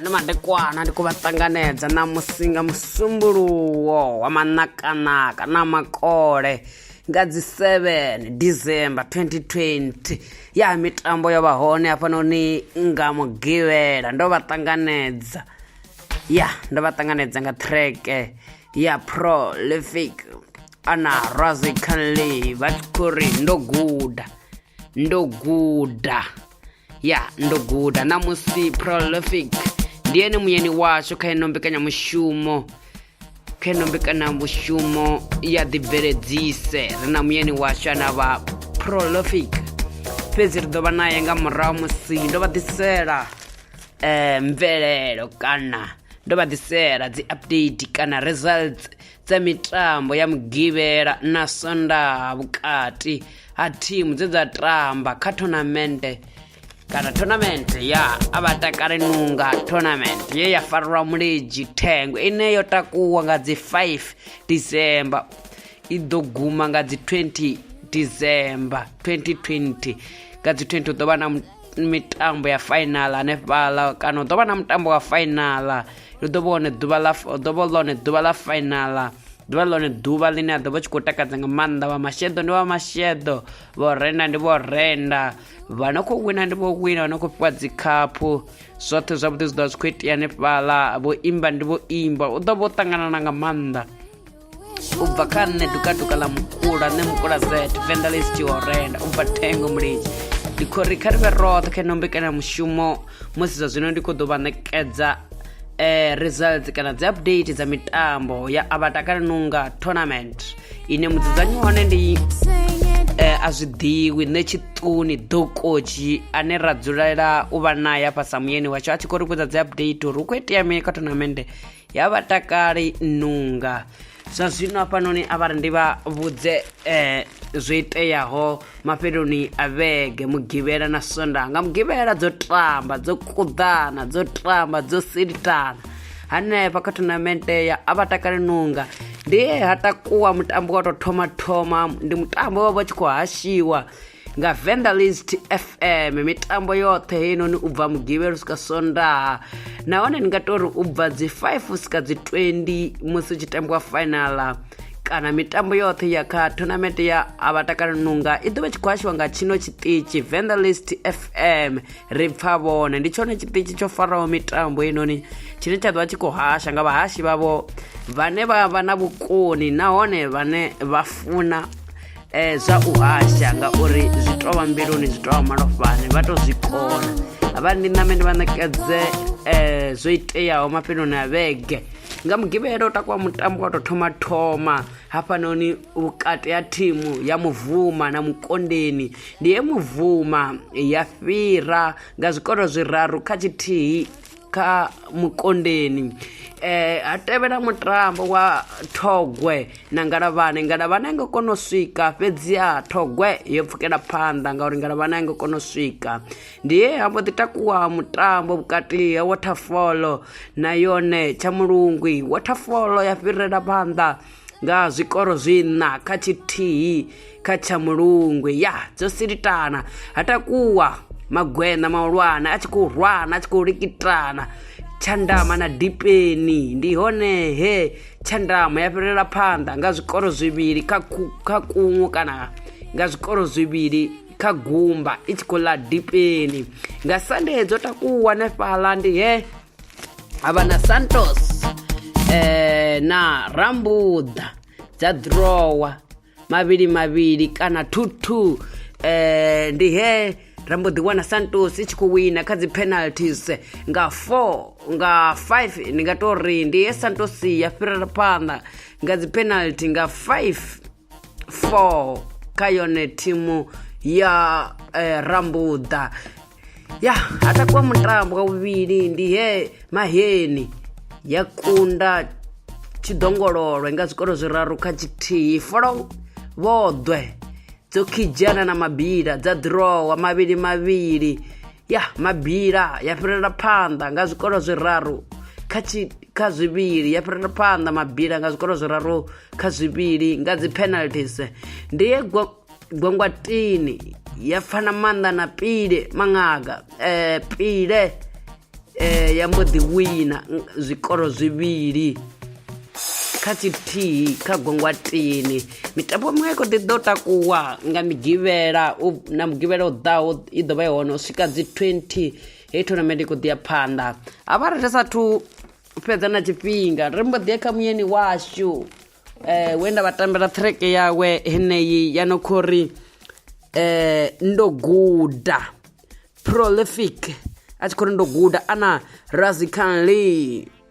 ndi madekwana ndi khou vha ṱanganedza na musinga musumbuluwo wa manakanaka na makole nga dzi 7 december 2020 ya mitambo yo vha hone hafhanoni nga mugivhela ndo vha ṱanganedza ya ndo vha ṱanganedza nga treke ya prolific ana razikanli vha tshi khou ri ndo guda ndo guda ya ndo guda namusi prolific ndi ene muyeni washu kha ino mbekanyamushumo kha ino mbekanyamushumo ya ḓibveledzise ri na muyeni washu ana vha prolific fhedzi ri ḓo vha naye nga murahu musi ndo vha ḓisela um mvelelo kana ndo vha ḓisela dzi update kana results dza mitambo ya mugivhela na sondaha vhukati ha thimu dze dza tamba kha thonamende kana thonamende ya abatakale nunga thonamende ye ya farelwa muledzhi thengo ine yo takuwa nga dzi 5 december i ḓo guma nga dzi 20 december 2020 nga dzi 20 hu ḓo vha na mitambo ya fainala hanefhaḽa kana hu ḓo vha na mutambo wa fainala hu ḓo vha hone ḓuvha ḽa ḓo vha ḽone ḓuvha ḽa fainala ḓuvha ḽone ḓuvha ḽine a ḓo vha tshi khou takadza nga maanḓa vha masheḓo ndi vha masheḓo vho renda ndi vho renda vha no khou wina ndi vho wina vha no khou fhiwa dzi khaphu zwoṱhe zwavhuḓi zwi ḓo vha zwi khou itea hanefhaḽa vho imba ndi vho imba u ḓo vha u ṱanganana nga maanḓa u bva kha nṋe dukatuka ḽa mukula nṋe mukula zet vendalis tshihorenda u bva thengo mulidzi ndi khou ri kha ri vhe roṱhe kha ino mbekanyamushumo musi zwa zwino ndi khou ḓo vha ṋekedza eh, results kana dzi update dza mitambo ya abatakale nunga tournament ine mudzudzanyi hone ndi eh, a zwi ḓivhi nṋe tshiṱuni ḓokoji ane ra dzulela u vha naye afha samuyeni washu a tshi khou ri vhudza dzi update uri hu khou itea mini kha tournament ya vhatakali nunga zwa zwino hafhanoni a vha ri ndi vha vhudze eh, zwo iteaho mafheloni a vhege mugivhela na sonda nga mugivhela dzo tamba dzo kuḓana dzo tamba dzo silitana hanefha kha thonamente ya a vha takali nunga ndi he ha takuwa mutambo wa tou thoma thoma ndi mutambo wa vha tshi khou hashiwa nga vendalist fm mitambo yoṱhe heinoni u bva mugivhelo u swika sondaha nahone ni nga tori u bva dzi 5 u swika dzi 20 musi u tshi tambiwa fainala kana mitambo yoṱhe ya kha tournament ya abatakala nunga i ḓovha tshi khou hashiwa nga tshino tshiṱitshi vendalist fm ri pfa vhone ndi tshone tshiṱitshi tsho faraho mitambo inoni tshine tsha ḓovha tshi khou hasha nga vhahashi vhavho vhane vha vha na vhukoni nahone vhane vha funa um zwa u hasha ngauri zwi tou vha mbiluni zwi tou vha malofhani vha tou zwi kona havha ndi name ndi vha ṋekedze um zwo iteaho mafheloni a vhege nga mugivhelo takuwa mutambo wa tou thoma thoma hafhanoni vhukati ha thimu ya muvuma na mukondeni ndi ye muvuma ya fhira nga zwikolo zwiraru kha tshithihi kha mukondeni eh ha tevhela mutambo wa thogwe na ngalavhane ngalavhane nga kona u swika fhedzi ha thogwe yo pfukela phanḓa ngauri ngalavhane nga kona u swika ndi he ha mbo ḓi takuwa mutambo vhukati ha waterfall na yone tsha mulungwi waterfall ya fhirela phanḓa nga zwikoro zwiṋa kha tshithihi kha tsha mulungwe ya dzo silitana ha takuwa magwena mahulwane a tshi khou rwana a tshi khou likitana tshandama na dipeni ndi hone he tshandama ya fhirela phanḓa nga zwikoro zwivhili kha kha kuṅwe kana nga zwikoro zwivhili kha gumba i tshi khou ḽa dipeni nga sande dzo takuwa nefhaḽa ndi he havana santos eh, na rambuḓa dza drowa mavhili mavhili kana thuthu eh, ndi he ra mbo ḓi wana santos i tshi khou wina kha dzi penalties nga 4 nga 5 ndi nga tou ri ndi he santos ya fhirela phanḓa nga dzi penalty nga 5 4 kha yone thimu ya eh, rambuḓa ya ha takuwa mutambo wa vhuvhili ndi he maheni ya kunda tshidongololwe nga zwikolo zwiraru kha tshithihi folo vhoḓwe dzo khidzhana na mabila dza ḓirowa mavhili mavhili ya mabila ya fhirela phanḓa nga zwikolo zwiraru kha tshi kha zwivhili ya fhirela phanḓa mabila nga zwikolo zwiraru kha zwivhili nga dzi penalties ndi ye gwangwatini ya pfana maanḓa na pile maṅaga eh pile eh ya mbo ḓi wina zwikolo zwivhili kha tshithihi kha gwangwatini mitambo miṅwe i kho ḓi ḓo takuwa nga migivhela na mugivhela u ḓaho i ḓo vha i hone u swika dzi 20 hei tournament i kho ḓi ya phanḓa ha vha ri ri sathu fhedza na tshifhinga ri mbo ḓi ya kha muyeni washu um we nda vha tambela ṱhireke yawe heneyi ya no kho ri um ndo guda prolific a tshi khou ri ndo guda ana razikanley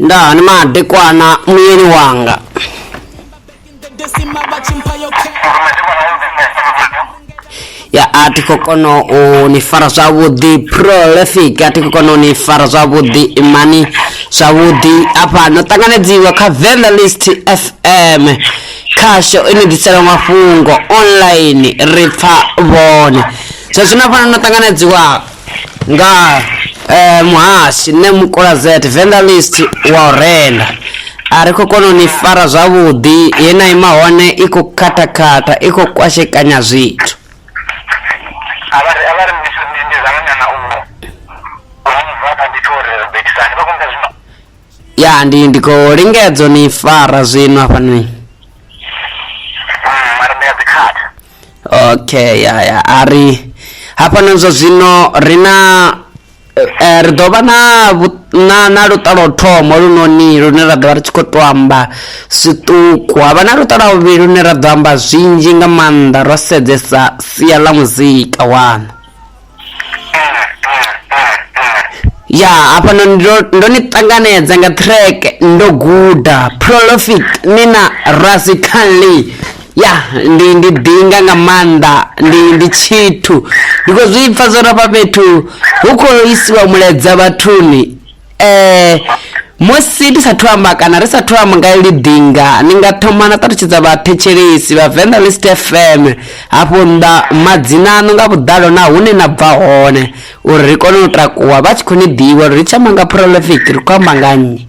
nda ni madekwana muyeni wanga ya a thi khou kona u ni fara zwavhuḓi prolific a thi khou kona u ni fara zwavhuḓi imani zwavhuḓi afha no ṱanganedziwa kha vendelist fm Khasho ine ḓisela mafhungo online ri pfa vhone zwa zwino fana no ṱanganedziwa nga eh, muhashi nṋe mukula zet venda list wa u renda a ri khou kona u ni fara zwavhuḓi ye na ima hone i khou khathakhata i khou kwashekanya zwithu avhari avhari mbiso ndi ndi zama nyana u u mva kha ndi thori betisani vha kumbe zwino ya ndi ndi khou lingedza u ni fara zwino hafhanoni Mm, mara ndi a dzi khatha okay ya ya a ri hafhanoni zwa zwino ri na eh, ri ḓo vha na vhu- na na luṱa lwa u thoma lunoni lune ra ḓo vha ri tshi khou to amba zwiṱuku havha na luṱa lwa vhuvhili lune ra ḓo amba zwinzhi nga maanḓa ro sedzesa sia ḽa muzika wanu ya hafhano ndo ndo ni ṱanganedza nga track ndo guda prolofit ni na rasi kanli ya ndi ndi ḓinga nga maanḓa ndi ndi tshithu ndi khou zwi pfa zwo rafha fhethu hu khou isiwa muleza vhathuni eh musi ndi sathu amba kana ri sathu amba nga ili dinga ni nga thoma na ṱalutshedza vhathetshelesi vha venḓa list fm hafho nda madzina aṋu nga vhuḓalo na hune na bva hone uri ri kone u takuwa vha tshi khou ni ḓivha uri ri tshi amba nga prolific ri khou amba nga nnyi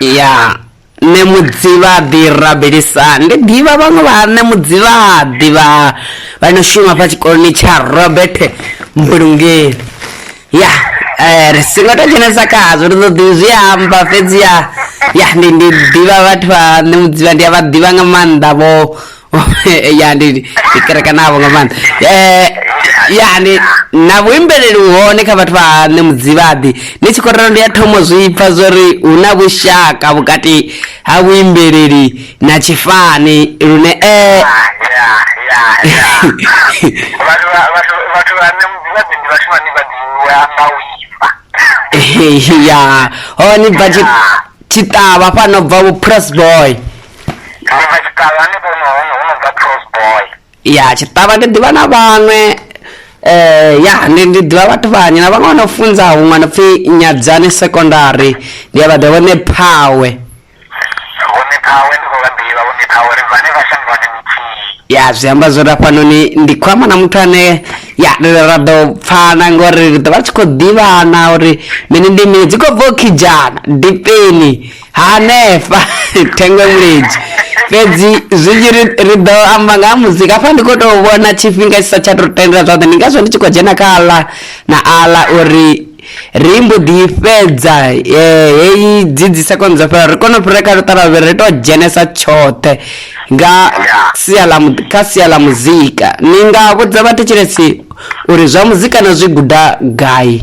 Ya, nṋe Mudzivhaḓi rabelisa ndi ḓivha vhaṅwe vha nṋe Mudzivhaḓi vha vha no shuma fha tshikoloni tsha Robert Mbulungeli ya ri si nga to dzhenesa khazwo ri ḓo ḓi zwi amba fhedzi ya ya ndi ndi ḓivha vhathu vha nṋe Mudzivha ndi a vha ḓivha nga maanḓa vho ya ndi ndi kerekana vho nga maanḓa eh ya ndi na vhuimbeleli u hone kha vhathu vha nṋe mudzivhaḓi ni tshi khou ralo ndi ya thomo zwi pfa zwori hu na vhushaka vhukati ha vhuimbeleli na tshifani lune eh ya ya ya vhathu vha- vhathu vhathu vha nṋe mudzivhaḓi ndi vhathu vhane vha ḓivhiwa nga u imba ya hone bva tshi- tshiṱavha fhano bva vhu press boy tshiṅwe tsha tshiṱavha ni vhone hone hu no bva cross boy ya tshiṱavha ndi ḓivha na vhaṅwe eh ya ndi ndi ḓivha vhathu vhanyi na vhaṅwe vha no funza huṅwe no pfi nyadzane secondary ndi a vha ḓivha vhone phawe vhone phawe ndi khou vha ḓivha vhone phawe ri vhane vha shangoni nthihi ya zwi amba zwo ri hafhanoni ndi khou amba na muthu ane ya ri ra ḓo pfana ngori ri ḓo vha ri tshi khou ḓivhana uri mini ndi mini dzi khou bva u khidzhana dipeni hanefha thengwe vhulidzi fhedzi zwi tshi ri ri ḓo amba nga ha muzika hafha ndi khou tou vhona tshifhinga tshi sa tsha tou tendela zwoṱhe ndi ngazwo ndi tshi khou dzhena kha aḽa na aḽa uri ri mbo ḓi fhedza eh, heyi dzi dzi sekono dzo fhela ri kone u fhira kha luṱalavhe ri tou dzhenesa tshoṱhe nga sia ḽa mu- kha sia ḽa muzika ni nga vhudza vhathetshelesi uri zwa muzika na zwi guda gai